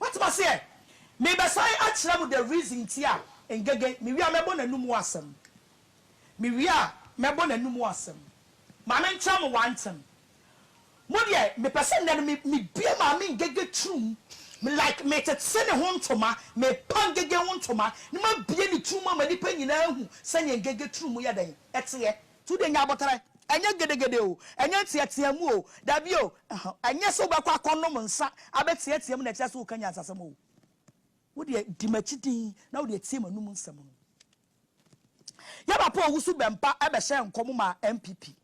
Woatem ase ɛ? Merebɛsan akyerɛ mo the reason nti a Ngege, mewie a mɛbɔ n'anomu asɛm. Mewie a mɛbɔ n'anomu asɛm. Ma menkyerɛ mo w'antem. Mo deɛ mepɛ sɛ nnɛ no me me bue maame Ngege turum me like me tete ne ho ntoma me pa Ngege ho ntoma ne ma bue ne turum ama nipa nyinaa ahu sɛdeɛ Ngege turum yɛ dɛn ɛteɛ. Nti wo deɛ nya aboterɛ ɛnyɛ gedegede o ɛnyɛ nteateamu o dabi o ɛhɔ ɛnyɛ sɛ wobɛkɔ akɔ nom nsa abɛteateam na ɛkyerɛ sɛ woka nyansasɛm o wo deɛ di makyi dinn na wo deɛ tie manum nsɛm no yɛ papa ɔwusu bɛmpa ɛbɛhyɛ nkɔm maa NPP.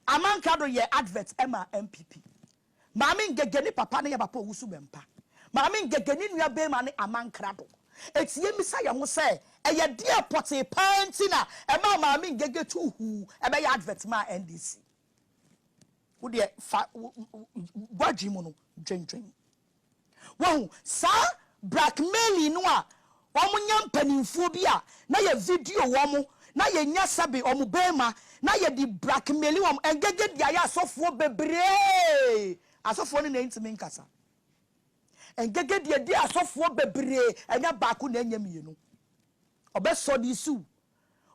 Aman Kado yɛɛ advert ma NPP. Maame Ngege ne papa ne yɛ papa Owusu Bempah. Maame Ngege ne nua barima ne Aman Krado. Enti yɛmmisa yɛn ho sɛ, ɛyɛ deɛn pɔtee paa nti na ɛmaa Maame Ngege tuu huu bɛyɛ advert maa NDC? Wo deɛ fa w'adwene mu no dwendwen. Wahu? Saa blackmailing no a wɔnya mpanimfoɔ bi a na yɛ video wɔn na yɛnya sɛbe wɔn bɛɛma na yɛde blackmaili wɔn ɛngɛgɛ de ayɛ asɔfoɔ bebree asɔfoɔ no na ɛntumi nkasa ɛngɛgɛ de ɛde asɔfoɔ bebree ɛnyɛ baako na ɛnyɛ mmienu ɔbɛsɔ de siw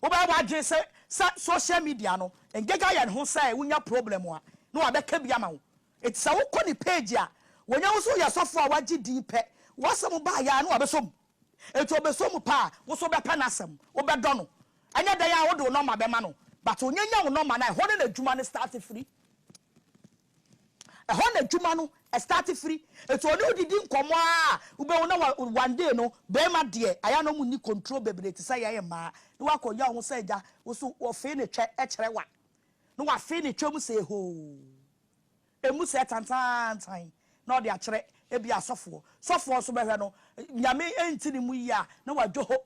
wobɛyɛ w'adwene sɛ sɛ social media no ɛngɛgɛ ayɛ ne ho sɛ wonya problem a na wabɛka bi ama wo Enti sɛ wokɔ ne page a, wɔnya wo sɛ woyɛ sɔfo a wagye din pɛ, w'asɛm ba ayɛ a na wabɛsɔ mu. Enti ɔbɛsɔ mu pɛ a, wo nso wobɛpɛ n'asɛm, wobɛdɔ no. Ɛnyɛ dɛn ara a wode wo nɔma bɛma no. But ɔnya nya wo nɔma no a, ɛhɔ no na adwuma no start firi. Ɛhɔ na adwuma no start firi. Enti ɔne wo didi nkɔmmɔ ara a, wobɛhu na wa, one day no, barima deɛ, ayɛ a na wɔn nni control bebree te sɛ yɛn mmaa. Na wakɔ nya wo ho sɛ agya, wo nso wɔfee ne twɛ kyerɛ wa. Na wafee ne twɛ mu sɛ ehoo. Emu sɛɛ tantaantan na ɔde akyerɛ ebia sɔfoɔ. Sɔfoɔ nso bɛhwɛ no, Nyame nte ne mu yie a na wadwoho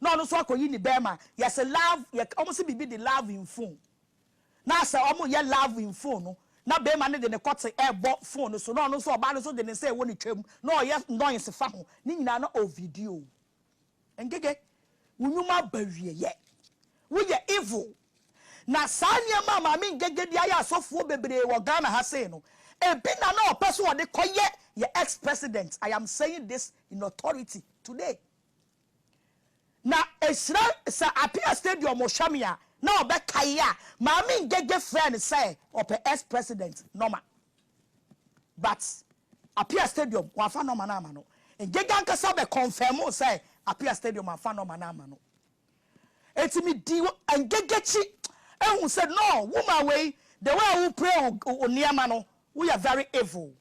na ɔno nso akɔyi ne bɛɛma. Yɛse love, yɛ, wɔn se biribi de love in phone. Na sɛ wɔn reyɛ love in phone no, na bɛɛma no de ne kɔte rebɔ phone no so na ɔno nso ɔbaa no nso de ne nsa ɛwɔ ne twam na ɔreyɛ noise fa ho. Ne nyinaa na ɔ video. Ngege, wo nwuma aba awieɛ. Woyɛ evil. Na saa nneɛma a Maame Ngege de ayɛ asɔfoɔ bebree wɔ Ghana ha sei no, ebi na na ɔpɛ sɛ ɔde kɔ yɛ yɛn ex president, I am saying this in authority today. Na ɛhyira sɛ Apia stadium hwɛ me a, na ɔbɛkae a Maame Ngege frɛɛ no sɛ ɔpɛ ex president nɔma. But Apia stadium wɔamfa nɔma no amma no. Ngege ankasa bɛ confirm sɛ Apia stadium amfa nɔma no amma no. Enti me dii engegekyi ehu sɛ no woman wei the way a wo pray wo wo neɛma no wo yɛ very evil.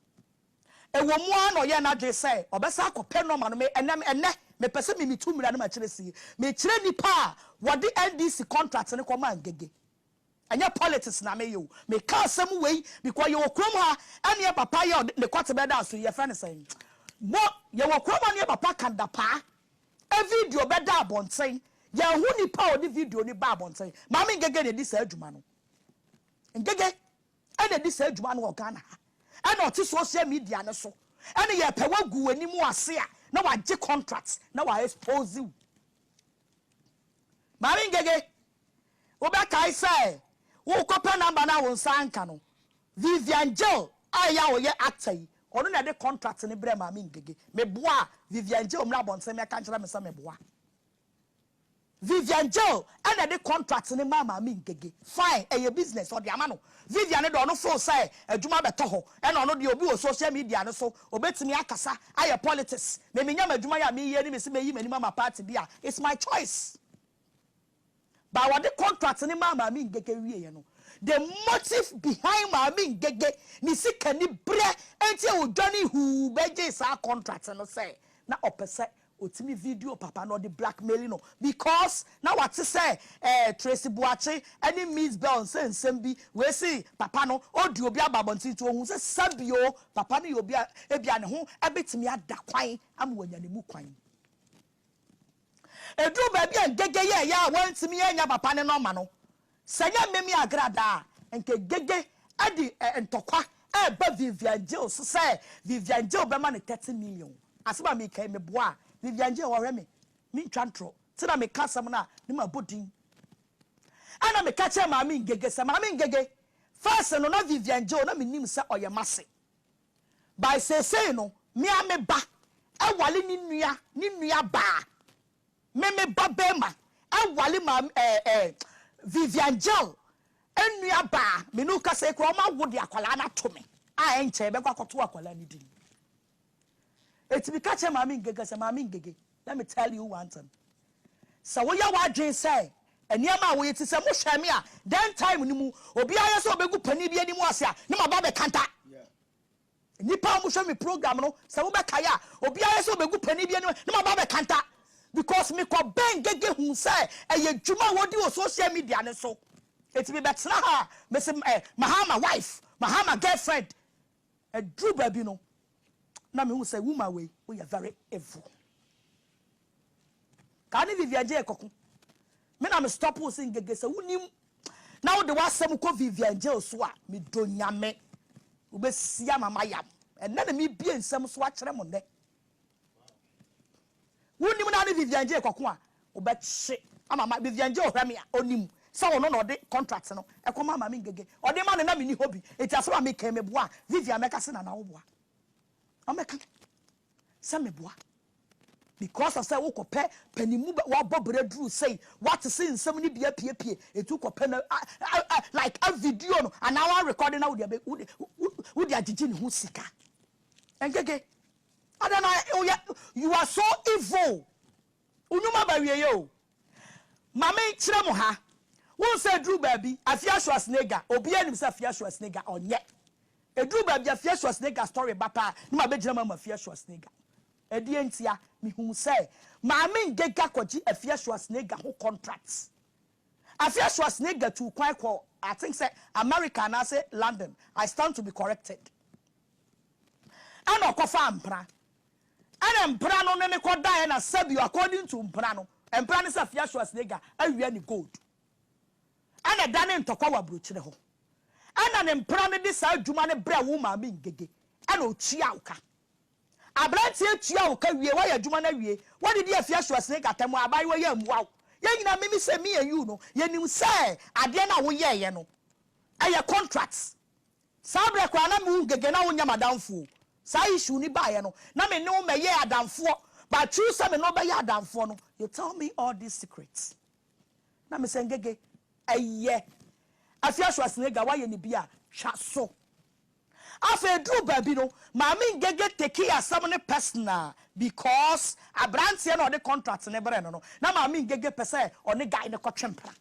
Ewo mu ara na ɔyɛɛ n'adwene sɛ ɔbɛsan akɔ pɛ nɔma no me ɛnɛ ɛnɛ me pɛ sɛ me me tu mmira no ma kyerɛ sie me kyerɛ nipa a wɔde NDC contract no kɔ maa Ngege. Ɛnyɛ politics na meyɛ o. Meka asɛm wei because yɛwɔ kurom ha ɛneɛ papa yɛ ɔde ne kɔte bɛda so yi yɛfrɛ no sɛn? Mo yɛwɔ kurom ha neɛ papa ka dapaa ɛ video bɛda abɔnten yɛnhu nipa a ɔde video no ba abɔnten. Maame Ngege na ɛdi saa adwuma no. Ngege ɛna ɛdi saa adwuma no wɔ Ghana ha. Ɛna ɔte social media no so ɛne yɛpɛ wagu w'anim ase a na wagye contract na wa expose wo. Maame Ngege Wobɛkae sɛ worekɔpɛ number no a wo nsa anka no. Vivian Jill a ɛyɛ a ɔyɛ actor yi, ɔno na ɛde contract no brɛɛ Maame Ngege. Meboa a, Vivian Jill mmra abɔnten mmɛka nkyerɛ me sɛ meboa. Vivian Jill na ɛde contract no maa Maame Ngege. Fine, ɛyɛ business, ɔde ama no. Vivian deɛ, ɔno feel sɛ adwuma bɛtɔ hɔ. Ɛna ɔno deɛ, obi wɔ social media no so, obetumi akasa, ayɛ politics. Me menya m'adwuma yi a mereyɛ ni, mese meyi m'anim ama party bi a, it's my choice. But wɔde contract no maa Maame Ngege wieɛ no, the motive behind Maame Ngege ne sikaniberɛ nti a ɔdwane huu bɛgyee saa contract no sɛ na ɔpɛ sɛ ɔtumi video papa no, ɔde blackmaili no because na wate sɛ eh, Tracy Boakye ne Miss Bell nsɛ nsɛm bi wei se papa no ɔdi obi aba abɔnten nti ɔhuu sɛ sɛbio papa no yɛ obi a ebia ne ho bɛtumi ada kwan ama wanya ne mu kwan. Eduu baabi a Ngege yɛɛ yɛ a wantumi annya papa ne nɔma no, sɛ ɛnyɛ Mimi Agrada a, anka Ngege de ntɔkwa reba Vivian Gil so sɛ Vivian Gil bɛma no thirty million. Asɛm a mereka yi, meboaa Vivian Gil, ɔhwɛ me, mentwa ntorɔ, nti na meka asɛm no a na mabɔ din. Ɛnna meka kyerɛɛ Maame Ngege sɛ, Maame Ngege, first no na Vivian Gil na menim sɛ ɔyɛ m'ase. By seesei no me ara me ba ware ne nua ne nua baa me me ba barima ware maame ɛɛ ɛɛ Vivian Jill nua baa me ne wo kasa yi koraa wɔn awo de akwadaa no ato me a ɛnkyɛe bɛkɔ akɔto akwadaa no din eti me ka kyerɛ maame Ngege sɛ maame Ngege let me tell you one thing Sɛ woyɛ w'adwene sɛ nneɛma a woyɛ te sɛ mo hwɛɛ me a dɛn time no mu obiara yɛ sɛ ɔbɛgu panin bi anim ase a ne maba bɛka da. Nnipa a wɔhwɛ me program no sɛ mobɛkae a obiara yɛ sɛ ɔbɛgu panin bi anim ne maba bɛka da because mekɔ bɛn gege hu sɛ ɛyɛ dwuma a wɔdi wɔ social media no so. Eti mebɛtena ha a mese eh, Mahama wife, Mahama girlfriend. Ɛduru baabi no, na mehu sɛ woman wei woyɛ very evil. Kaa ne Vivian Jay kɔko. Me na me stop wo se ngege sɛ wonim na wode w'asɛm kɔ Vivian Jay so a, medɔ Nyame. Wobɛsi ama mayam. Ɛnnɛ na mebie nsɛm so akyerɛ mo nnɛ. Wonim na ne Vivian Jay kɔko a wobɛkye ama ma Vivian Jay ɔhwɛ me a ɔnim sɛ ɔno na ɔde contract no ɛkɔ ma Maame Ngege ɔde ma no na menni hɔ bi nti asɛm a meka yi meboa a Vivian mɛka sɛ Nana woboa ɔmɛka sɛ meboa because of sɛ wokɔpɛ panimu wabɔ berɛ duru sei wate se nsɛm no bi apiepie ɛti wokɔpɛ no like a video no anaa wa record na wode agyegye ne ho sika Ɛnkeke. Adɛn na woyɛ you are so evil wo nwuma aba awieɛ o. Ma me nkyerɛ mo ha, wohu sɛ ɛduru baabi Afia Schwarzenegger obiara nim sɛ Afia Schwarzenegger ɔnyɛ. Ɛduru baabi Afia Schwarzenegger story ba paa na mabɛgyina mu ama Afia Schwarzenegger. Ɛdeɛn ntia? Mehuu sɛ Maame Ngega kɔgye Afia Schwarzenegger ho contract. Afe asoa Sneijder tuu kwan kɔɔ I think sɛ Amerika anaase London, I stand to be corrected, ɛna ɔkɔfaa mpena, ɛna mpena no ne no kɔdaeɛ, ɛna sɛbio according to mpena no, mpena no sɛ Afe asoa Sneijder awia ne gold, ɛna ɛdanee ntɔkwa wɔ abrokyire hɔ, ɛna ne mpena no de saa adwuma no brɛɛ wo maame Ngege, ɛna ɔtuaa wo ka. Abranteɛ tua wo ka wie wayɛ adwuma no awie wadidi afie aso asene gata mu a abaayewa yi ammua wo yɛn nyinaa me me sɛ me and you no yɛnim sɛ adeɛ no a woyɛɛyɛ no ɛyɛ contract saa berɛ koraa na me wo Gege na wonyɛ m'adamfo o saa issue no baeɛ no na me ne wo mmɛyɛɛ adamfoɔ but through sɛ me ne wo bɛyɛ adamfoɔ no you tell me all these secrets na me sɛ Gege ɛyɛ afie aso asene ga wayɛ ne bi a twa so. Afei eduruu baabi no, Maame Ngege tekee asɛm no personal because aberanteɛ no a ɔde contract no brɛɛ no no, na Maame Ngege pɛ sɛ ɔne guy no kɔtwe mpena.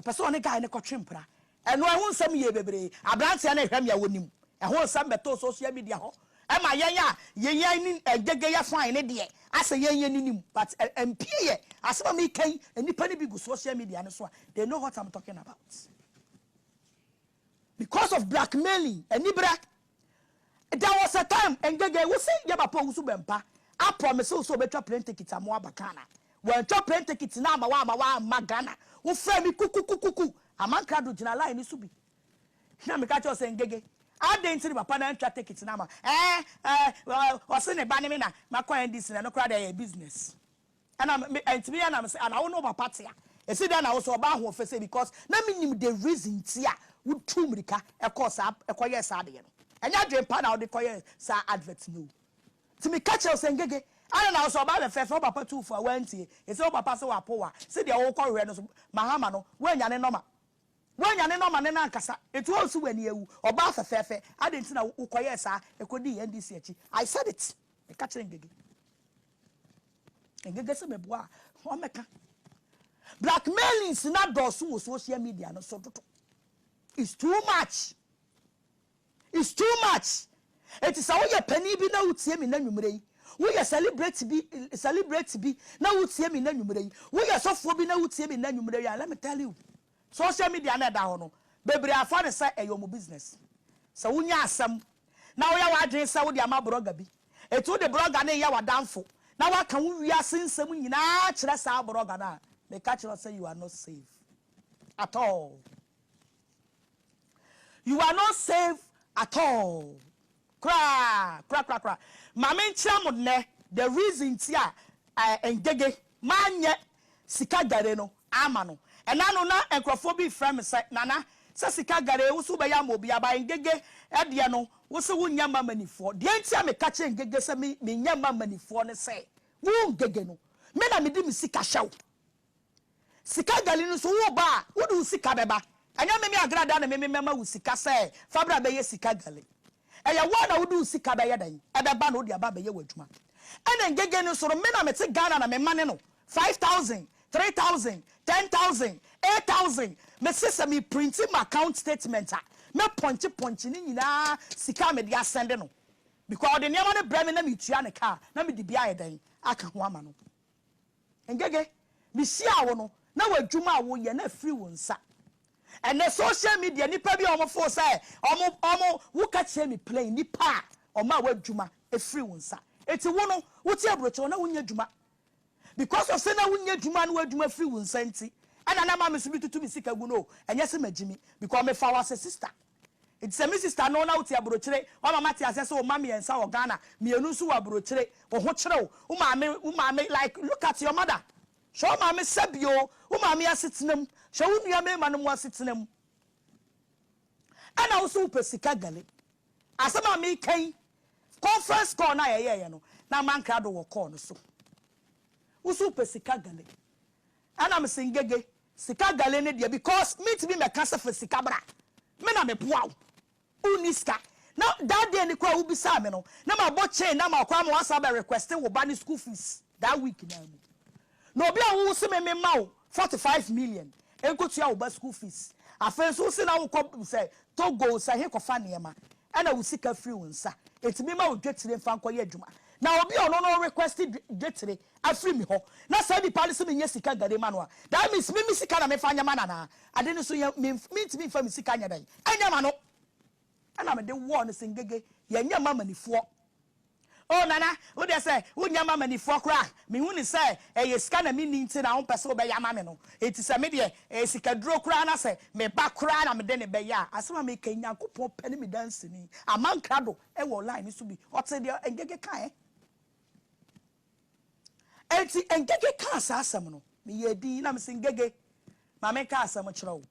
Ɔpɛ sɛ ɔne guy no kɔtwe mpena. Ɛno ɛho nsɛm yɛɛ bebree. Aberanteɛ no rehwɛ me a ɔnim. Ɛho nsɛm bɛtɔɔ social media hɔ. Ɛma yɛn a yɛn ne Ngege yɛ fine no deɛ, asɛ yɛn yɛn ani nim. But ɛmpue yɛ. Asɛm a mereka yi, nnipa no bi gu social media no so a, they know what I'm talking about. Because of blackmailing aniberɛ There was a time Ngege wo se yɛ papa owusu bɛmpa a promise wo sɛ ɔbɛtwa plane ticket ama wo aba Ghana Wantwa plane ticket no ama wo amma wo amma Ghana Wo frɛ me kukukukuku Amankra do gyina line no so bi Na meka kyerɛ wo sɛ Ngege adɛn nti ne papa no antwa ticket no ama Ɛɛ ɛɛ ɔse ne ba ne me na makɔ NDC na ɛno koraa deɛ ɛyɛ business Ɛna me ɛntumi yɛ na me sɛ ana wo ne wo papa te a ɛsi dɛn na wo so ɔbaa ahoɔfɛ sei because na me nim the reason nti a wo tuu mirika ɛkɔɔ saa ɛkɔ yɛɛ saa adeɛ no ɛnyɛ adwen pa na wo de kɔ yɛɛ saa advert no o nti me ka kyerɛ wo sɛ Ngege ana na wo so ɔbaa bɛfrɛ sɛ wo papa tuu fo a wo antie ɛsɛ wo papa se wapo wo a se deɛ wo kɔ hwɛ no so Mahama no wo annya ne nɔma Woanya ne no amane no ankasa, enti wo nso w'ani awu. Ɔbaa fɛfɛɛfɛ, adɛn nti na wokɔyɛɛ saa? Ɛkɔdii NDC akyi. I said it! Meka kyerɛɛ Ngege. Ngege sɛ meboa a, ɔmmɛka. Blackmailings no adɔɔso wɔ social media no so dodo. It's too much! It's too much enti sɛ woyɛ panin bi na wotie me nnɛ anwumerɛ yi, woyɛ celebrate bi celebrate bi na wotie me nnɛ anwumerɛ yi, woyɛ sɔfoɔ bi na wotie me nnɛ anwumerɛ yi a, let me tell you, social media no a ɛda hɔ no, bebree afa no sɛ ɛyɛ wɔn business. Sɛ wonya asɛm na woyɛ w'adwene sɛ wode ama blogger bi, enti wode blogger no reyɛ w'adamfo na woaka wo wiase nsɛm nyinaa akyerɛ saa blogger no a, meka kyerɛ wo sɛ you are not safe at all. You are not safe at all koraa koraa koraa koraa ma me nkyerɛ mo nnɛ the reason nti a eh, Ngege manyɛ sika gare no ama no ɛna no na nkorɔfoɔ bi frɛ me sɛ Nana sɛ sika gare wo se wobɛyɛ ama obi a but Ngege deɛ no wo se wo nyɛ mma manifoɔ deɛ nti a meka kyerɛ Ngege sɛ me menyɛ mma manifoɔ ne sɛ wo Ngege no me na mede me sika hyɛ wo Sika gali no so wo ba a wode wo sika bɛba ɛnyɛ meme agradaa na meme mɛma wo sika sɛ fa bra bɛyɛ sika gali ɛyɛ wo a na wode wo sika bɛyɛ dɛn ɛbɛba na wode aba abɛyɛ w'adwuma ɛna Ngege no nso no me na mete Ghana na memane no five thousand, three thousand, ten thousand, eight thousand mese sɛ me printi m'account statement a mɛ pɔnkye pɔnkye ne nyinaa sika a mede asɛnde no because ɔde nneɛma no brɛ me na metua ne car na mede bi ayɛ dɛn aka ho ama no. Ngege, mehyiaa wo no, na w'adwuma a woreyɛ no afiri wo nsa. Ɛnnɛ, social media, nnipa bi a wɔfoo sɛ wɔn, wɔn, woka kyerɛ me plain, nnipa a wɔma w'adwuma firi wo nsa. Enti wo no, wote aburokyerɛw na wonyɛ adwuma. Because of sɛ na wonyɛ adwuma na w'adwuma firi wo nsa nti, ɛna na maame nso metutu me sika gu no o, ɛnyɛ sɛ magyimi, because mefa wo as a sister. Nti sɛ me sister no na wote abrokyire, woama mate aseɛ sɛ wo mma mmiɛnsa wɔ Ghana, mmienu nso wɔ abrokyire, wo ho kyere wo, wo maame, wo maame, like look at your mother, hwɛ wo maame sɛbi oo, wo maame asetena mu, hwɛ wo nua mmarima nom asetena mu, ɛna wo nso wopɛ sika gale. Asɛm a meka yi, conference call no a yɛyɛeɛ no, na Amankrado wɔ call no so. Wo nso wopɛ sika gale. Ɛna me se ngege sika gale ne deɛ because me ntumi mɛka se fa sika bra me na me boa wo wo nni sika na that day no koraa wo bisaa me no na ma bɔ chain na ma koraa ma wa san abɛ request wo ba ne school fees that week naa mu na obi a wo wo se me me ma wo forty five million nkotua wo ba school fees afei nso wo se na wo kɔ sɛ Togo sɛ he kɔ fa nneɛma ɛna wo sika firi wo nsa enti me ma wo dwetire mfa nkɔyɛ adwuma na obi a ɔno no request dwetire afiri me hɔ na saa nipa no se menyɛ sika nka de ma no a that means me me sika na me fa nyɛ ma no anaa ade no so yɛ me mentumi mfa me sika nyɛ dɛn nyɛ ma no ɛna mede wɔɔ no se ngege yɛnyɛ ma manifoɔ Oh Nana, wo deɛ sɛ wonyɛ ma manifoɔ koraa a, mehu no sɛ ɛyɛ sika na menni nti na wompɛ sɛ wobɛyɛ ama me no. Enti sɛ me deɛ, ɛyɛ sikaduro koraa na sɛ me ba koraa na mede no bɛyɛ a, asɛm a meka yi, Nyankopɔn pɛ ne me danseni, Aman Krado wɔ line no so bi, ɔtee deɛ Ngege kaeɛ. Enti Ngege kaa saa asɛm no. Meyɛɛ dinn na mese, Ngege, ma menka asɛm nkyerɛ wo.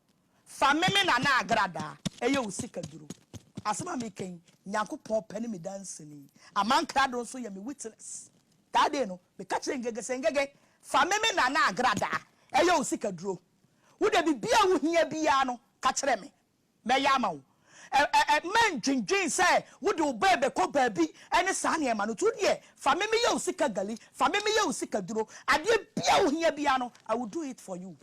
Fa me me nana agradaa, ɛyɛ wo sikaduro. Asɛm a mereka yi, Nyankopɔn pɛ ne me danseni. Aman krado nso yɛ me witness. That day no, meka kyerɛɛ Ngege sɛ, Ngege, fa me me nana agradaa, ɛyɛ wo sikaduro. Wo deɛ biribiara a wohia biara no, ka kyerɛ me. mɛyɛ ama wo. Ɛ ɛ mma ndwendwen sɛ wode wo ba rebɛkɔ baabi ne saa nneɛma no. To deɛ, fa me meyɛ wo sika gali, fa me meyɛ wo sika duro. Adeɛ biara a wohia biara no, I will do it for you.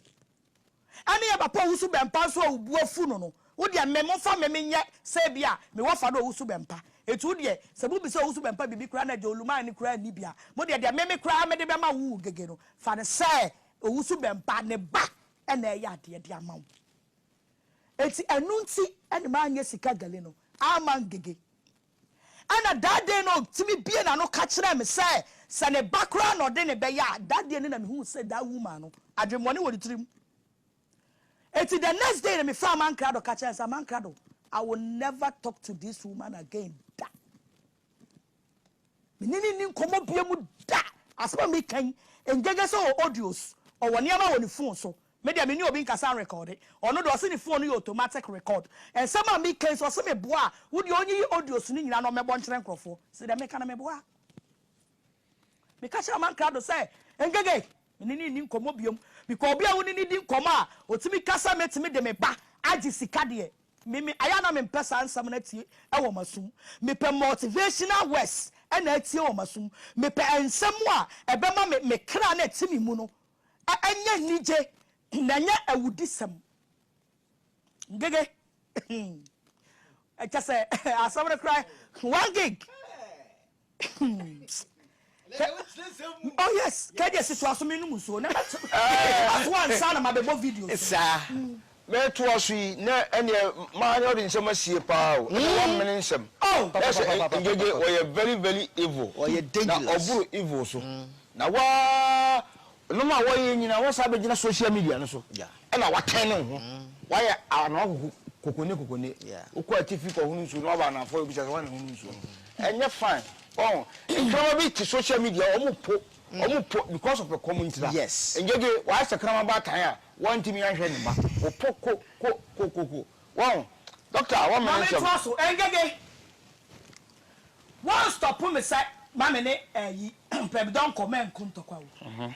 Ɛne yɛ papa a ɔwusu bɛmpa nso a wo bo afu no no, wo deɛ me momfa me menyɛ sɛ ebia me wɔfa no a ɔwusu bɛmpa. Enti wo deɛ, sɛ mobisa ɔwusu bɛmpa biribi koraa na agya Oluman no koraa nni bi a, mo deɛ deɛ me me koraa mede bɛma wo wo Gege no, fa no sɛ ɔwusu bɛmpa ne ba na ɛreyɛ adeɛ de ama wo. Enti ɛno nti na manyɛ sika gale no amma ngege. Ɛnna Dade no tumi buee n'ano ka kyerɛɛ me sɛ, sɛ ne ba koraa na ɔde no bɛyɛ a, dadeɛ no na mehuu sɛ that woman no, adwemmɔne wɔ ne tirim. Enti the next day no mefrɛɛ Amankrado ka kyerɛɛ no sɛ, Amankrado, I will never talk to this woman again da! Me ne no nni nkɔmmɔ biom da! Asɛm a meka yi, ɛngyaga sɛ ɔwɔ audios, ɔwɔ nneɛma wɔ ne phone so. Me deɛ, me ne obi nkasa nrekɔɔde. Ɔno deɛ, ɔse ne phone no yɛ automatic record. Nsɛm a meka yi, sɛ ɔse meboa a, wo deɛ ɔnyiyi audios no nyinaa na ɔmmɛbɔ nkyerɛ nkorɔfoɔ. Sɛ deɛ meka no, meboa. Meka kyerɛɛ Aman krado sɛ, Ngege, me ne no nni nkɔmmɔ bio. Mepɛ obi a wo ne no di nkɔmmɔ a ɔtumi ka sɛ mɛtumi de me ba agye sika deɛ. Me, me, ayɛ a na mempɛ saa nsɛm no atie wɔ m'asom. Mepɛ motivational words na atie wɔ m'asom. Mepɛ nsɛm a ɛbɛma me, me kra no a ɛte me mu no anya anigye na ɛnyɛ awudisɛm. Ngege, kyɛ sɛ asɛm no koraa, one gig. oh yes kɛdeɛ si toa so me nom nsuo na mɛto ato ansa na mabɛbɔ video saa mɛtoa so yi na ɛneɛ maa na ɔde nsɛm asie paa o ɛna wamene nsɛm na sɛ ngyegye ɔyɛ very very evil na ɔboro evil so na waa Nom a wɔyɛ nyinaa wɔsan bɛgyina social media no so na wɔatwɛn ne ho. Wɔayɛ ano akoko kokone kokone. Wokɔ atifi kɔhono nsuo na waba anaafoɔ wobisa sɛ hwan na ɛhono nsuo no. Ɛnyɛ fine. Ɔho, nkrama bi te social media wɔn po wɔn po because of ɛkɔm nti la. Ngyegye wayɛ sɛ kraman baatan a wɔntumi anhwɛ ne mma. Wɔpo ko ko ko ko ko. Wɔho, doctor a wɔmmɛn nsɛm. Maame toa so, Ngyegye. Wan stop me sɛ ma me ne ɛyi pɛbidɔ nkɔ mɛ nko ntɔkwa o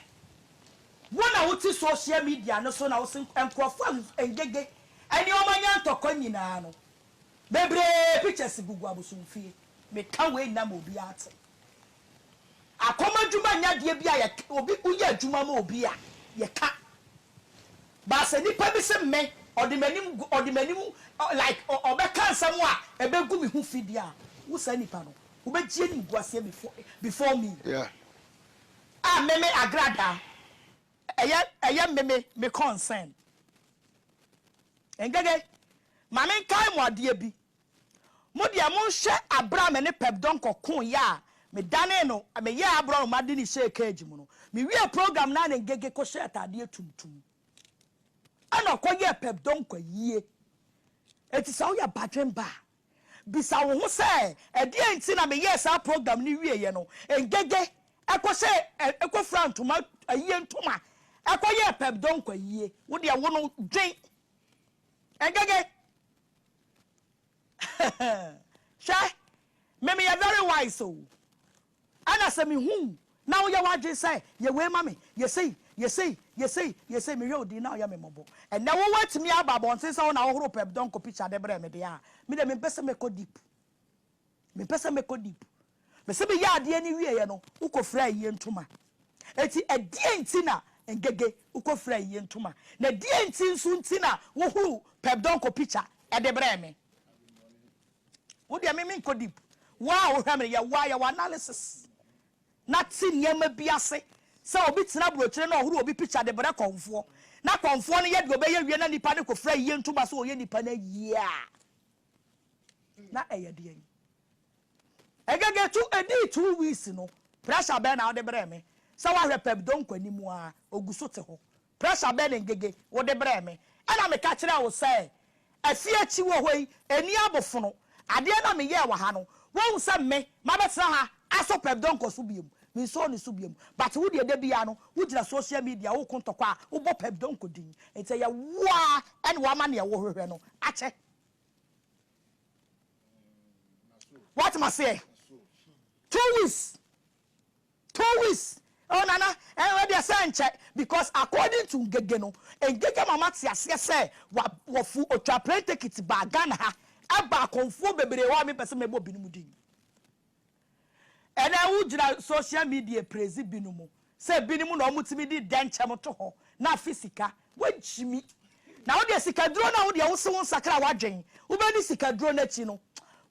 wo na wo te social media no so na wo se nkorɔfo a ngege ɛne ɔma nya ntɔkwa nyinaa no bebree pictures gugu abosomfie me ka wei nyina ma obiaa te. Akɔm adwuma nyɛ adeɛ bi a yɛ obi wo yɛ adwuma ma obi a yɛ ka but sɛ nipa bi se me ɔde m'anim gu ɔde m'anim like ɔ ɔbɛ ka nsɛm a ɛbɛ gu me ho fi deɛ a wo saa nipa no wo bɛ gye anim gu aseɛ before before me Yeah. ah me me agradaa ɛyɛ ɛyɛ me me me concern ngege ma me nkae mo adeɛ bi Mo deɛ monhwɛ aberɛ a me ne Pep Donkor koo yɛ a medanee no meyɛɛ aborɔnoma de no hyɛɛ cage mu no, mewiee program no a na Ngege kɔhyɛ ataadeɛ tuntum ɛna ɔkɔyɛɛ Pep Donkor ayie. Enti sɛ woyɛ badwenba a, bisa wo ho sɛ ɛdeɛn nti na meyɛɛ saa program no wieeɛ no Ngege kɔhyɛ kɔfira ntoma ayie ntoma kɔyɛɛ Pep Donkor ayie. Wo deɛ wo no dwen Ngege. Hwɛ, me meyɛ very wise o, ɛna sɛ mehu wo na woyɛ w'adwene sɛ yɛ wei ma me, yɛ sei, yɛ sei, yɛ sei, yɛ sei, mehwɛ wo din na woyɛ me mmɔbɔ. Ɛnnɛ wo woatumi aba abɔnten sɛ wo na wohoro Pep Donko picture de brɛɛ me deɛ a, me deɛ mempɛ sɛ mɛkɔ deep. Mempɛ sɛ mɛkɔ deep. Mese meyɛɛ adeɛ no wieeɛ no, wokɔfiraa ayie ntoma. Enti ɛdeɛn nti na Ngege wokɔfiraa ayie ntoma? Na ɛdeɛn nti nso nti na wohuruu Pep Donkor picture de brɛɛ me? Wo deɛ me menkɔ deep. Wo a wohwɛ me no, yɛ wo a yɛ wo analysis na te nneɛma bi ase sɛ obi tena aburokyire na ɔhoro obi picture de brɛ kɔmfoɔ na kɔmfoɔ no yɛ deɛ ɔbɛyɛ wie na nipa no kɔfira ayie ntoma sɛ ɔyɛ nipa no ayie a, Na ɛyɛ deɛn? Egege to edii two weeks no pressure bɛn na wode brɛɛ me? Sɛ woahwɛ Pepdon nkɔanim a, ogu so te hɔ. Pressure bɛn na Ngege wode brɛɛ me? Ɛna meka kyerɛɛ wo sɛ afie akyi wɔ hɔ yi nni abofono. Adeɛ na meyɛɛ wɔ ha no, woahu sɛ me mabɛtena ha asɔ Pepdon nkɔ so biom? Mensɔɔ ne so biom. But wo deɛ da biara no wogyina social media reko ntɔkwa a wobɔ Pepdon nkɔ din. Enti ɛyɛ wo ara na woama deɛ wohwehwɛ no akyɛ. What must say? Two weeks. Two weeks. Oh nana, and where they say check because according to Ngege no, Ngege mama ti aseɛ sɛ wa wɔfu otwa plane ticket ba Ghana ha ɛba akɔnfuo bebree hɔ a mi pɛ sɛ mɛbɔ binom din. Ɛnɛ wogyina social media praise binom sɛ binom na wɔtumi de dɛnkyɛm to hɔ na afe sika. Woagyimi. Na wodeɛ sikaduro no a wodeɛ wose wo nsakra w'adwen wobɛni sikaduro no akyi no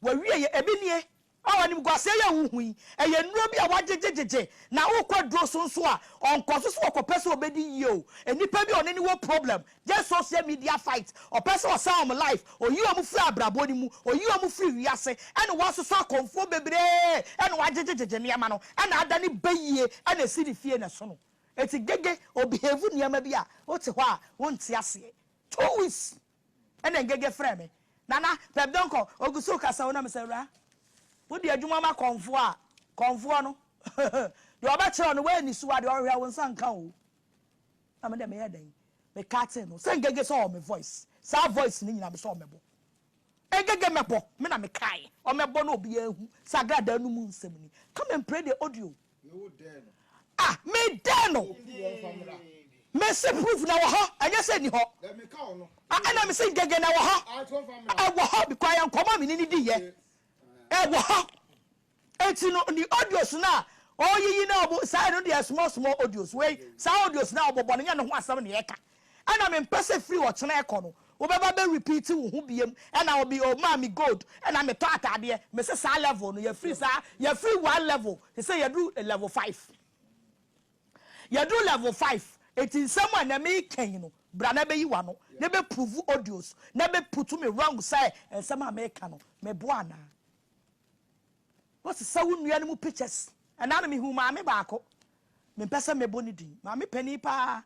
w'awieɛ. Ebi nie a animguaseɛ yɛ wo hu yi ɛyɛ nnuro bi a woagyegyegyegye na wokɔ aduro so nso a ɔnkɔso so ɔkɔpɛ sɛ ɔbɛdi yie o. Nnipa bi a ɔne no wɔ problem Just social media fight, ɔpɛ sɛ ɔsɛe wɔn life, oyi wɔn firi abrabɔ no mu, oyi wɔn firi wiase, ɛna wasosɔ akɔmfoɔ bebree, ɛna wagyegyegyegye nneɛma no, ɛna ada ne ba yie, ɛna ɛsi ne fie na ɛso no. Enti Gege, ɔ behave nneɛma bi a, wote hɔ a, wonte aseɛ. Two weeks, ɛna Ngege frɛɛ me, Nana, Pep Donkor, ɔgu so rekasa o, na mesɛ, Awuraa, wode adwuma ma kɔmfoɔ a, kɔmfoɔ no, deɛ ɔbɛkyerɛ wo no, woanni so a, deɛ ɔhwehwɛ wo nsa nka o. Na me de meyɛ dɛn me cutting no sɛ ngege sɛ ɔwɔ me voice saa voice no nyina me sɛ ɔmɛbɔ ngege mɛbɔ me na me kae ɔmɛbɔ na obiaa ahu sɛ agradaa no mu nsɛm ni come and pray the audio ah me dɛn no me se proof na wɔ hɔ ɛnyɛ sɛ ni hɔ ah ɛna me se ngege na wɔ hɔ ɛwɔ hɔ because yɛ nkɔmɔ a me ne ne di yɛ ɛwɔ hɔ. Enti no ne audios no a ɔreyiyi no a ɔbo saa ɛno deɛ small small audios wei saa audios no a ɔbɔbɔ no nyɛ ne ho asɛm na ɛka ɛna mempɛ sɛ firi ɔkyena ɛkɔ no wobɛba bɛ repeat wo ho biam ɛna obi ɔmaa me gold ɛna metɔ ataadeɛ mese saa level no yɛfiri saa yɛfiri one level te sɛ yɛduru level five yɛduru level five enti nsɛm a na meka yi no bra na bɛyi wano na bɛ prove audios na bɛ putu me wrong sɛ nsɛm a meka no meboa anaa Wo sesa wo nua no mu pictures. Ɛna no me hu maame baako me mpɛ sɛ mɛbɔ ne din maame panin paa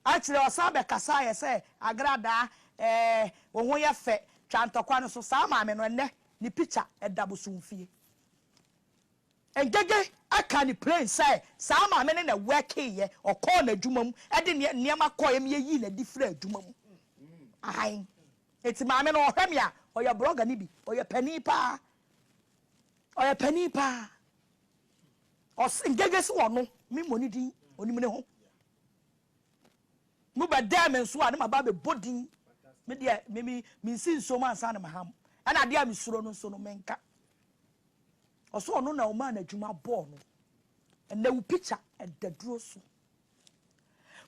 akyire ɔsan bɛ kasa ayɛ sɛ agradaa ɛɛ wo ho yɛ fɛ twa ntɔkwa no so saa maame no ɛnɛ ne picture ɛda bosom fie Ngege ɛka ne plain sɛ saa maame no na workee yɛ ɔkɔɔ na adwuma mu ɛde neɛ nneɛma kɔɛ me ɛyii na adi firi adwuma mu ahan. Enti maame no ɔhwɛ me a, ɔyɛ blogger no bi. Ɔyɛ panin paa. Ɔyɛ panin paa. Ɔse Ngege se ɔno, me mmɔ ne din, ɔnim ne ho. Mo bɛdɛɛ me nso a, na maba abɛbɔ din. Me deɛ, me, me, mensi nsuo mu ansa na maham. Ɛna adeɛ a mesuro no nso no, menka. Ɔse ɔno na ɔmaa no adwuma bɔɔ no. Ɛnɛ wo picture ɛda duro so.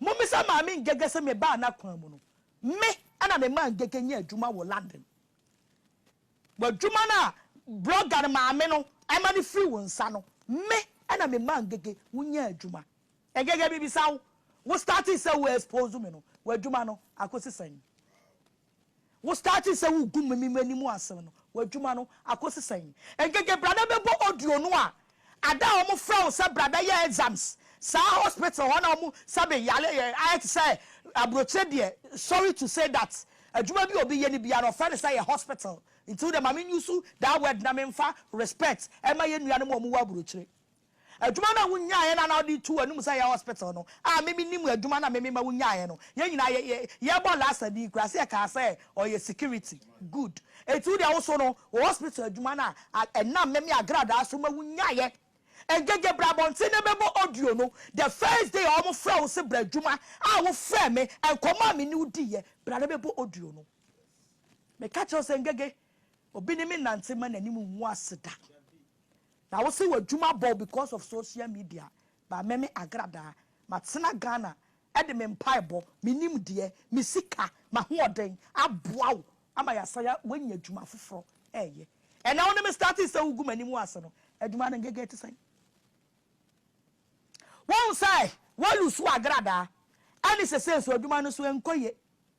Mommisa Maame Ngege sɛ mebaa n'akwan mu no, me na memaa Ngege nyaa adwuma wɔ London. Wɔ adwuma no a blɔga no maame no ma no firi wo nsa no, me na memaa Ngege wonyaa adwuma. Ngege, mebisa wo, wo startee sɛ wo expose me no, w'adwuma no akosi sɛn? Wo startee sɛ wogu meme m'anim asem no, w'adwuma no akosi sɛn? Ngege brada bɛbɔ audio no a, ada a wɔn frɛ wo sɛ bra bɛyɛ exams saa hospital hɔ na wɔn sɛbe yare yɛ ayɛ te sɛ abrokyire deɛ sorry to say that adwuma bi a obi yɛ no biara no ɔfrɛ no sɛ yɛ hospital nti wo deɛ ma me use that word na me nfa respect ɛma yɛn nuanom a wɔn wɔ abrokyire. Adwuma no a wunyaeɛ no anaa wode reto w'anom sɛ yɛ hospital no a me menim adwuma no a me mema wunyaeɛ no, yɛn nyinaa yɛ yɛ yɛbɔ Lassa din koraa sɛ yɛkaa sɛ ɔyɛ security. Good. Enti wo deɛ wo so no wo hospital adwuma no a ɛnam me me agradaa so ma wunyaeɛ. Ngege bra abɔnten na yɛbɛbɔ audio no the first day a wɔfrɛɛ wo se bra adwuma a wofrɛɛ me nkɔmmɔ a me ne wo diiɛ bra na yɛbɛbɔ audio no. Meka kyerɛ wo sɛ Ngege Obi ne me nante mma n'anim ngu ase da. Na wo se w'adwuma bɔ wo because of social media but me me agradaa matena Ghana de me mpaebɔ, me nimdeɛ, me sika, m'ahoɔden aboa wo ama yɛasan woanya adwuma foforɔ reyɛ. Ɛnna wo ne me startee sɛ wogu m'anim ase no adwuma no ngege te sɛn? Woahu sɛ woalusu w'agradaa ɛne sesei nso adwuma no nso ɛnkɔ yie.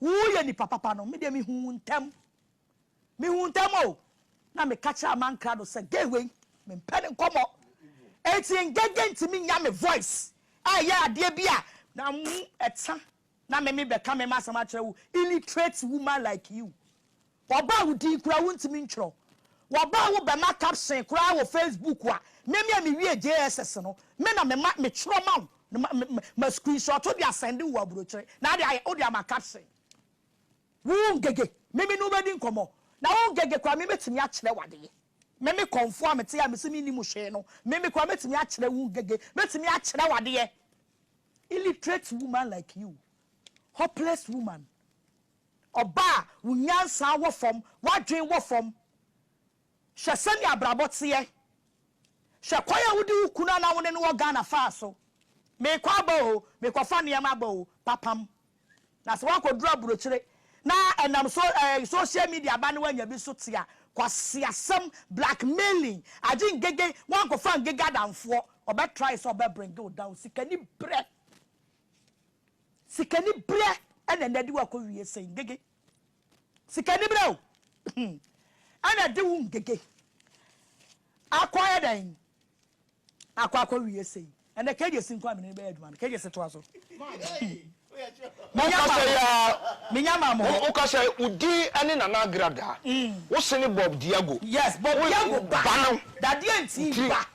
Wo yɛ nipa papa no me deɛ me hu wo ntɛm me hu wo ntɛm o na me ka kyerɛ aman kra do sɛ gay wei me mpɛ ne nkɔmɔ eti ngege ntumi nya me voice a ɛyɛ adeɛ bi a na mu ɛtsa na me me bɛka me ma asɛm akyerɛ wo illiterate woman like you Wɔbaa wo din koraa wontumi ntwerɛ. Wɔbaa wo bɛma caption koraa wɔ Facebook a, me me a mewie JSS no, me na mema metwerɛ ma wo na ma ma ma screenshot de asɛnde wo aburokyire na ade ayɛ wode ama caption. Wo Ngege, me me ne wo bɛdi nkɔmmɔ na wo Ngege koraa me mɛtumi akyerɛ wo adeɛ. Me me kɔmfoɔ a mete a mese mennim hwee no, me me koraa mɛtumi akyerɛ wo Ngege, mɛtumi akyerɛ wo adeɛ. Illiterate woman like you, hopeless woman. Ɔba a wo nyansa wɔ fam, w'adwene wɔ fam. Hwɛ sɛnea abrabɔ teɛ. Hwɛ kwan a wode wo kunu a na wo ne no wɔ Ghana faa so. Merekɔ aba oo, merekɔfa nneɛma aba oo, papam. Na sɛ woakɔduru aburokyire na ɛnam so eh, social media aba na woanya bi so te a, kwaseasɛm, blackmailing, agye ngege, woankɔfa ngege adamfoɔ, ɔbɛtrae sɛ ɔbɛbringe wo down, sikani berɛ. Sikaniberɛ na ɛna de wo akɔ wie sɛn ngege sikaniberɛ o hmm ɛna ɛde wo ngege akɔ ayɛ dɛn akɔ akɔ wie sɛn ɛna kegye si nko a mene bɛyɛ adwuma no kegye si toa so wokasɛ ya menya ma mo wokasɛ wodi ɛne nana agrada mm. wosene bob diago yes bob diago ba dadeɛ nti ba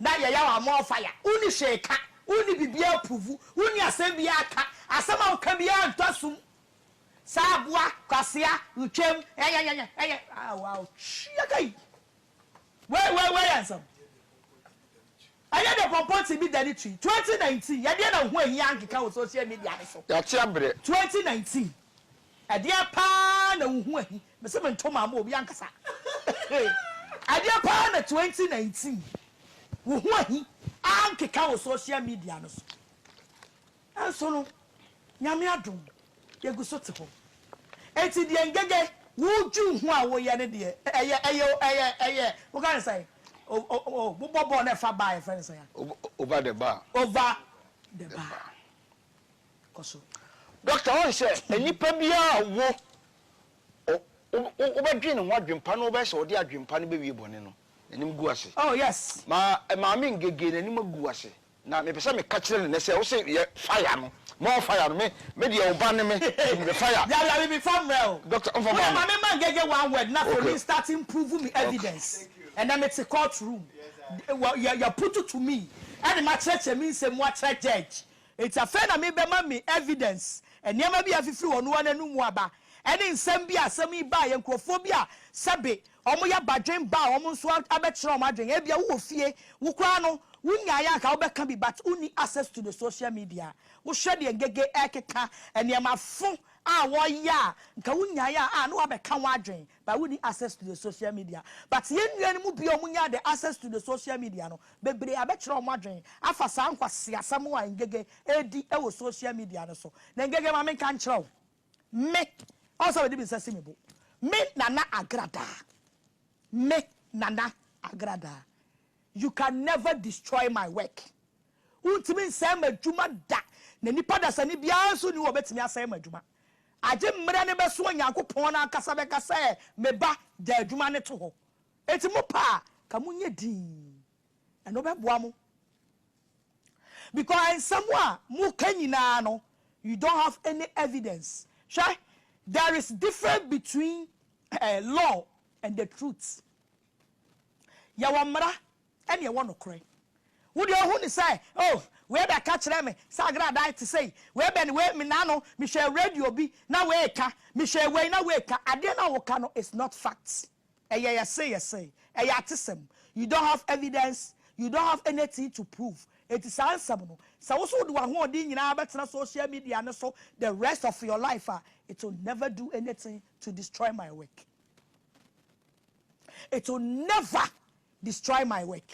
na yɛyaw a more fire wonni hwee ka wonni biribiara approve wonni asɛm biara ka asɛm a woka biara ntɔ sum saa aboa kwasea retwam ɛnyɛnyɛnyɛ ɛnyɛ ah wow twiya kai wei wei wei yɛ nsɛm ɛnyɛ de pɔmpɔ ti bi da ne twi 2019 yɛdeɛ na ho ahia nkeka wɔ social media ne so Yɛate abrɛ. 2019. Ɛdeɛn paa na wo ho ahi? Me se mento maa mo obi ankasa. Ɛdeɛn paa na 2019 wo ho ahi ankeka wɔ social media no so? Nanso no, Nyame adom, yɛgu so te hɔ. Enti deɛ Ngege wodwiw ho a woyɛ no deɛ, ɛyɛ, ɛyɛ, ɛyɛ, ɛyɛ, woka no sɛn? Oh, oh, oh, oh, mobɔ bɔɔl na ɛfa baa a, yɛfrɛ no sɛn a? Over the bar. Over the bar. Kɔ so. Doctor ɔn sɛ nnipa biara a ɔwo ɔ wo wo bɛ dwen ne ho adwenpa na ɔbɛyɛ sɛ ɔde adwenpa no bɛ wie bɔne no nanim gu ase Oh yes. ma maame ngege nanim agu ase na mepɛ sɛ meka kyerɛ no nɛ sɛ wo se yɛ fire no more fire no me me deɛ wo ba ne me nti mepɛ fire Yaya me me fa mmerɛ o. Doctor ɔnfa Wo mma yɛ no. maame ma ngege one word na afei Okay. me start improve me Okay. evidence ɛnɛ me te court room wɔ yɛ yɛ putu to me ɛne ma kyerɛkyerɛ me nsɛm mu akyerɛ judge Enti afei na mebɛma me evidence, nneɛma bi a afifiri wɔn ara anom mu aba, ɛne nsɛm bi a asɛm yi baa yɛ nkurɔfoɔ bi a sɛbe wɔyɛ badwen ba a wɔn nso abɛkyerɛ wɔn adwen. Ebia wowɔ fie, wo koraa no wonyaeɛ a anka wobɛka bi but wonni access to the social media. Wohwɛ deɛ Ngege ɛrekeka, nneɛma fo a wɔyɛ a nka wonyaeɛ a a na woabɛka ho adwen. But wonni access to the social media but yɛn nua no mu bi a wɔn nyaa the access to the social media no bebree abɛkyerɛ wɔn adwene afa saa nkwaseasɛm a Ngege redi wɔ social media no so na Ngege ma menka nkyerɛ wo me ɔn sɛ mede me nsa si me bo me Nana Agradaa me Nana Agradaa you can never destroy my work wontumi nsɛe m'adwuma da na nipa dasani biara nso nni hɔ a ɔbɛtumi asɛe m'adwuma Agye mmerɛ no bɛso a Nyankopɔn no ankasa bɛka sɛ, Me ba, gya adwuma no to hɔ. Enti mopɛ a, ka mo nyɛ dinn. Ɛno bɛboa mo. Because nsɛm a moka nyinaa no, you don't have any evidence. Hwɛ, there is difference between law and the truth. Yɛwɔ mmara ɛne ɛwɔ nokorɛ. Wo deɛ wohu ne sɛ, oh, wei bɛka kyerɛɛ me sɛ agradae te sei, wei bɛn wei, me nna no mehwɛɛ radio bi na wei reka, mehwɛɛ wei na wei reka. Adeɛ no a woka no is not fact. Ɛyɛ yɛse yɛse, ɛyɛ atesɛm. You don't have evidence, you don't have anything to prove. Enti saa nsɛm no, sɛ wo nso wode w'ahoɔden nyinaa bɛtena social media no so the rest of your life a, it will never do anything to destroy my work. It will never Destroy my work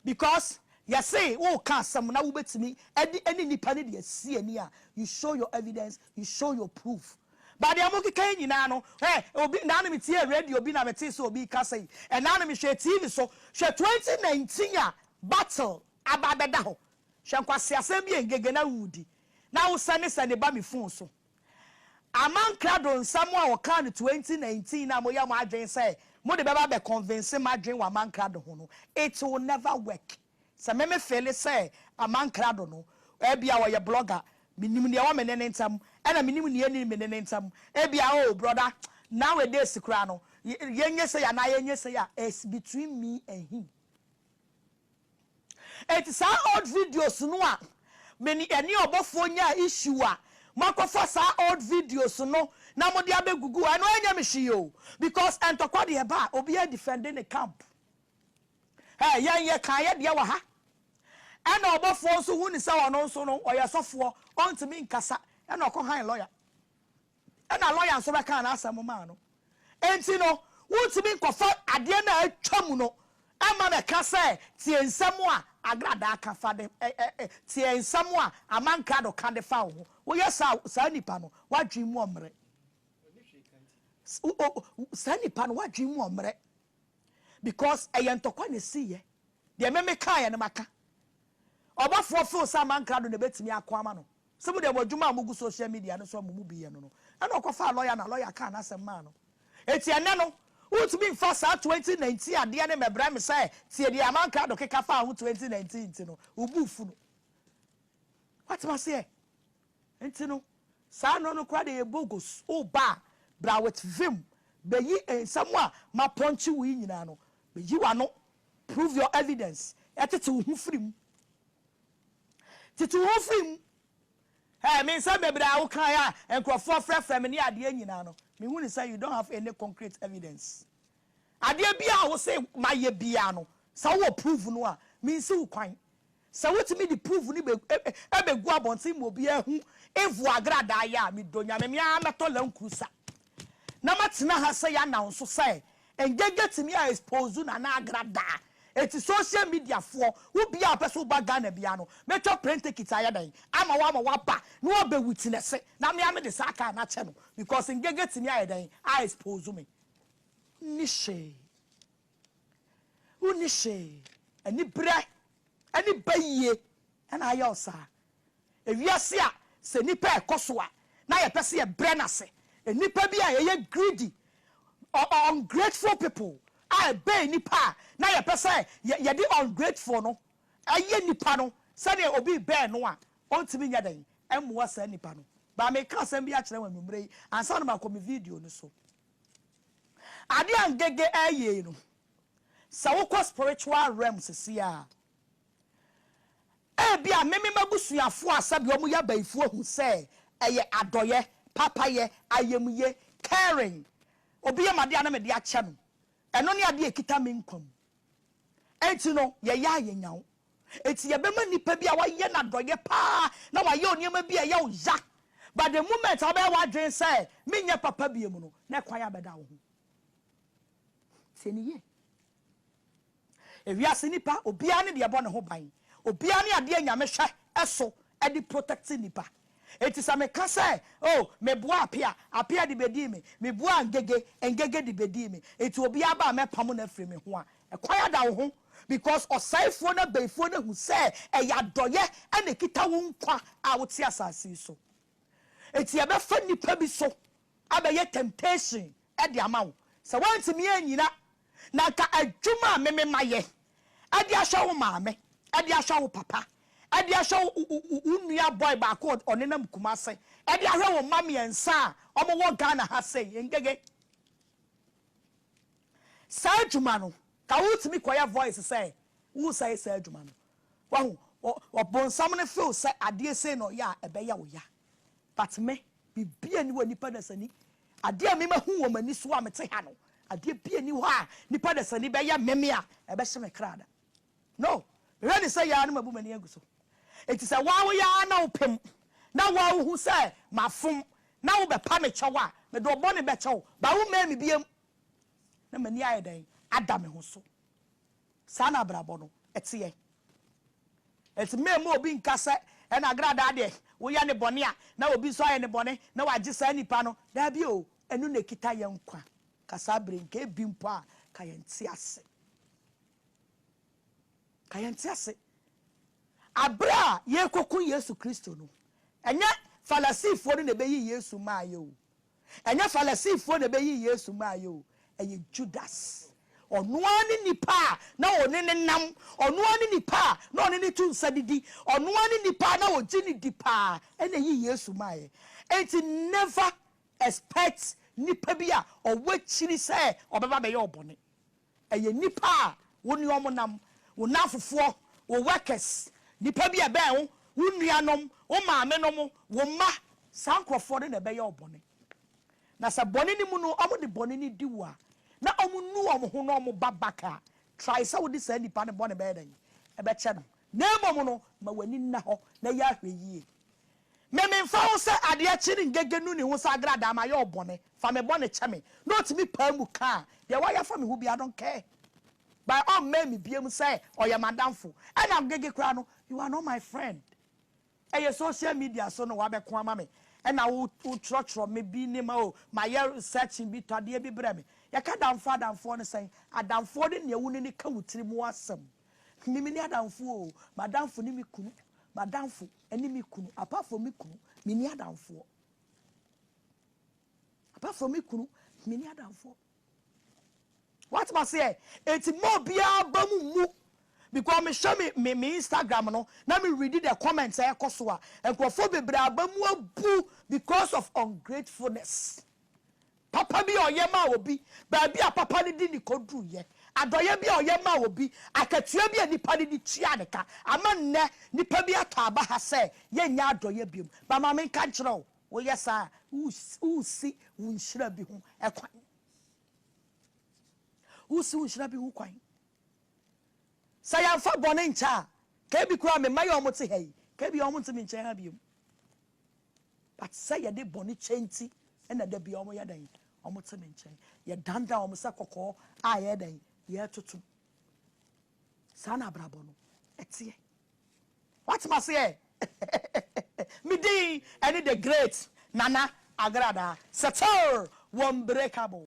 because yɛse woka asɛm na wobɛtumi ɛde ɛne nipa no de asi ani a you show your evidence you show your proof but deɛ mokeka yi nyinaa no hɛ obi ɛnaa na metiee radio bi na metee sɛ obi kasa yi ɛnaa na mehwɛɛ TV so hwɛ 2019 a battle aba abɛda hɔ hwɛ nkwaseasɛm bi a Ngege na wodi na wosɛne sɛne ba me phone so Aman krado nsɛm a ɔkaa no 2019 no a moyɛ mo adwene sɛ mode bɛba abɛ convince m'adwene wɔ aman krado ho no it will never work. Sɛ me me feele sɛ aman krado no ɛbia ɔyɛ blogger menim neɛ ɛwɔ me ne ne ntɛm ɛna menim neɛ ɛnni me ne ne ntɛm ɛbia oh brother now a days koraa no yɛnyɛ sei anaa yɛnyɛ sei a it's between me and him. Enti saa old videos no a me ne ɛne ɔbɔfoɔ nyaa issue a moakɔfa saa old videos no na mode abɛgugu ɛno ɛnyɛ me hwee o because ntɔkwa deɛ ɛba a obiara defend ne camp Ɛ yɛn yɛkaa yɛ deɛ wɔ ha ɛna ɔbɔfoɔ nso hu ne sɛ ɔno nso no ɔyɛ sɔfoɔ ɔntumi nkasa ɛna ɔkɔ han lawyer Ɛna lɔya nso bɛkaa n'asɛm maa no. Enti no, wontumi nkɔfa adeɛ no a atwam no mma no ɛka sɛ tie nsɛm a agradaa ka fa de ɛ ɛ ɛ tie nsɛm a amankrado ka de fa wo ho. Woyɛ saa a, saa nipa no, w'adwene mu ɔmmrɛ. S o o saa nipa no, w'adwene mu ɔmmrɛ. Because ɛyɛ ntɔkwa na ɛsiiɛ. Deɛ me mekaeɛ no maka. Ɔbɔfoɔ feel sɛ amankrado na ɛbɛtumi ako ama no. Sɛ mo deɛ mo adwuma a mogu social media no so a mo mu bi yɛ no no, ɛna ɔkɔfaa lɔya na lɔya kaa n'asɛm maa no. Enti ɛnnɛ no, wontumi mfa saa twenty nineteen adeɛ no mmɛbrɛ me sɛ tie deɛ Aman Krado keka faa ho twenty nineteen nti no, wo bo refu no. Woate m'aseɛ? Nti no, saa nnuro no koraa deɛ ɛyɛ bogus. Woba a, bra with vim. Bɛyi nsɛm a mapɔnkye wo yi nyinaa no, bɛyi w'ano, prove your evidence, ɛtete wo ho firi mu. Tete wo ho firi mu. Hey, me nsɛm bebree a wo kae a nkurɔfoɔ frɛfrɛ me ne adeɛ nyinaa no, me hunu sɛ you don't have any concrete evidence. Adeɛ biara a wo se ma yɛ biara no, sɛ wo wɔ prove no a, me nsi wo kwan. Sɛ wo tumi de prove no be, be gu abɔnten ma obiara ahu evil agradaa yɛ a, me dɔ Nyame, me ara mɛtɔ Land Cruiser. na ma tena ha sɛ yɛ announce sɛ Ngenge tumi a expose Nana Agra daa enti social media foɔ wo biaa ɔpɛ sɛ woba Ghana biaa no mɛtwa plane ticket ayɛ dɛn ama wo ama waba na wabɛ witness na me a mede saa car no akyɛ no because Ngenge tumi ayɛ dɛn a expose me wonni hwee wonni hwee anibrɛ ne bayie na ayɛ wo saa. Wiase a sɛ nnipa ɛkɔ so a na yɛpɛ sɛ yɛbrɛ no ase. Nnipa bi a ɛyɛ greedy, ungrateful people a ɛbɛn nnipa a na yɛpɛ sɛ yɛde ungrateful no yɛ nnipa no sɛdeɛ obi rebɛn no a ɔntumi nyɛ dɛn mmoa saa nnipa no. Ba meka asɛm bi akyerɛ wo anwummerɛ yi ansa na makɔ me video no so. Adeɛ a Ngege ɛreyɛ yi no sɛ wokɔ spiritual realm sesie a Ebia me ne m'abusuafo a sɛdeɛ wɔyɛ abayifoɔ hu sɛ ɛyɛ adɔeɛ, papayɛ, ayamye, caring. Obi yɛ me adeɛ a na mede akyɛ no. Ɛno ne adeɛ a ɛkita me nkwa mu. Enti no, yɛyɛ a yɛnya wo. Enti yɛbɛma nipa bi a woayɛ no adɔeɛ pa ara na wayɛ wo nneɛma bi a ɛyɛ wo ya, but the moment a wobɛyɛ w'adwene sɛ menyɛ papa bio no, na ɛkwan abɛda wo ho. Tie no yie. Ewiase nnipa obiara ne deɛ ɛbɔ ne ho ban, obiara ne adeɛ a Nyame hwɛ so de protect nnipa. Enti sɛ meka sɛ oh meboa Apea, Apea de bɛdii me, meboa Ngege, Ngege de bɛdii me, enti obiara ba a mɛpamo no afiri me ho a, ɛkwan ada wo ho because ɔsɛefoɔ ne abayifoɔ no ahu sɛ ɛyɛ adɔeɛ na ɛkita wo nkwa a wote asase yi so. Enti yɛbɛfa nnipa bi so abɛyɛ temptation de ama wo. Sɛ woantumi annyina Na anka adwuma a me mema yɛ de ahwɛ wo maame, de ahwɛ wo papa, de ahwɛ wo nua boy baako a ɔnenam Kumase, de ahwɛ wo mma mmiɛnsa a wɔwɔ Ghana ha sei, Ngege. Saa adwuma no, ka wotumi kɔyɛ voice sɛ woresɛe saa adwuma no. Wahu, Ɔbonsam no feel sɛ adeɛ sei na ɔyɛ a ɛbɛyɛ wo ya. But me, biribiara nni hɔ a nnipa dasani, adeɛ a me mahu wɔ m'ani so a mete ha no, adeɛ biara nni hɔ a nnipa dasani bɛyɛ me me a ɛbɛhye me kra da. No, mehwɛ ne sɛ yɛ ara na mabu m'ani agu so. Enti sɛ wo ara woyɛ ara na wopem, na wo ara wohu sɛ mafom, na wobɛpa me kyɛw a, mede ɔbɔne bɛkyɛ wo, but wommɛn me biam na m'ani ayɛ dɛn? ada me ho so. Saa na abrabɔ no teɛ. Enti memma obi nka sɛ, Ɛna agradaa deɛ, woyɛ no bɔne a, na obi nso ayɛ no bɔne, na wɔagye saa nipa no. Dabi o, ɛno na ɛkita yɛn nkwa. Ka saa bere yi, nka ebi mpo a, ka yɛnte ase. Ka yɛnte ase. Abere a yɛrekɔko Yesu Kristo no, ɛnyɛ Farisifoɔ no na ɛbɛyii Yesu maaeɛ o. Ɛnyɛ Farisifoɔ na ɛbɛyii Yesu maeɛ o, ɛyɛ Judas. Ɔno ara ne nipa a na ɔne no nam, ɔno ara ne nipa a na ɔne no to nsa didi, ɔno ara ne nipa a na ɔgye no di pa ara na ɛyii Yesu maeɛ. Enti never expect nipa bi a ɔwɔ akyiri sɛ ɔbɛba abɛyɛ wo bɔne. Ɛyɛ nnipa a wo ne wɔn nam, wo nnamfofoɔ, wo workers, nnipa bi a ɛbɛn wo, wo nuanom, wo maamenom, wo mma. Saa nkurɔfoɔ no na ɛbɛyɛ wo bɔne. Na sɛ bɔne no mu no wɔde bɔne no di wo a, na wɔnnu wɔn ho na wɔba back a, try sɛ wode saa nnipa no bɔne bɛyɛ dɛn? Bɛkyɛ no. Na mmom no, ma w'ani nna hɔ na yɛ ahwɛyie. Me memfa wo sɛ adeɛ kye ne ngege nu ne ho sɛ agradaa mayɛ wo bɔne fa me bɔne kyɛ me na ɔtumi paa mu kaa deɛ wayɛ afa me ho biara I don't care but ɔmmɛn me biom sɛ ɔyɛ m'adamfo ɛna ngege koraa no you are not my friend ɛyɛ social media so na wabɛko ama me ɛna wo wo twerɛtwerɛ me bi nneɛma o mayɛ searching bi tɔ adeɛ bi brɛ me yɛka adamfoɔ adamfoɔ ne sɛn adamfoɔ ne nea wo ne ne ka wo tiri mu asɛm me me ne adamfoɔ o m'adamfo ne me kunu m'adamfo Ɛne me kunu. Apart from me kunu, menni adamfoɔ. Apart from me kunu, menni adamfoɔ. Wate ma seɛ? Eti ma obiara ba mu mmu. Because mehwɛ me me me Instagram no na me read the comments a ɛkɔ so a, nkurɔfoɔ bebree aba mu abu because of ungratefulness. Papa bi a ɔyɛ maa obi, baabi a papa no de no koduruiɛ, adɔeɛ bi a ɔyɛ maa obi, akatua bi a nnipa no de tuaa no ka. Ama nnɛ, nnipa bi atɔ aba ha sɛ yɛnnyɛ adɔeɛ biom. Ba ma menka nkyerɛ wo, woyɛ saa a, woresi wo nhyira bi ho kwan. Woresi wo nhyira bi ho kwan. Sɛ yɛamfa bɔne nkyɛ a, nka ebi koraa me mma yi a wɔte ha yi, nka ebia wɔnte me nkyɛn ha biom. But sɛ yɛde bɔne kyɛ nti na da biara wɔyɛ dɛn? Wɔte me nkyɛn. Yɛdandan wɔn sɛ kɔkɔɔ a yɛyɛ dɛn? Yɛretoto. Saa na abrabɔ no ɛteɛ. Wate m'aseɛ? Me din ɛne the great Nana Agradaa Setir Wɔnbreakable.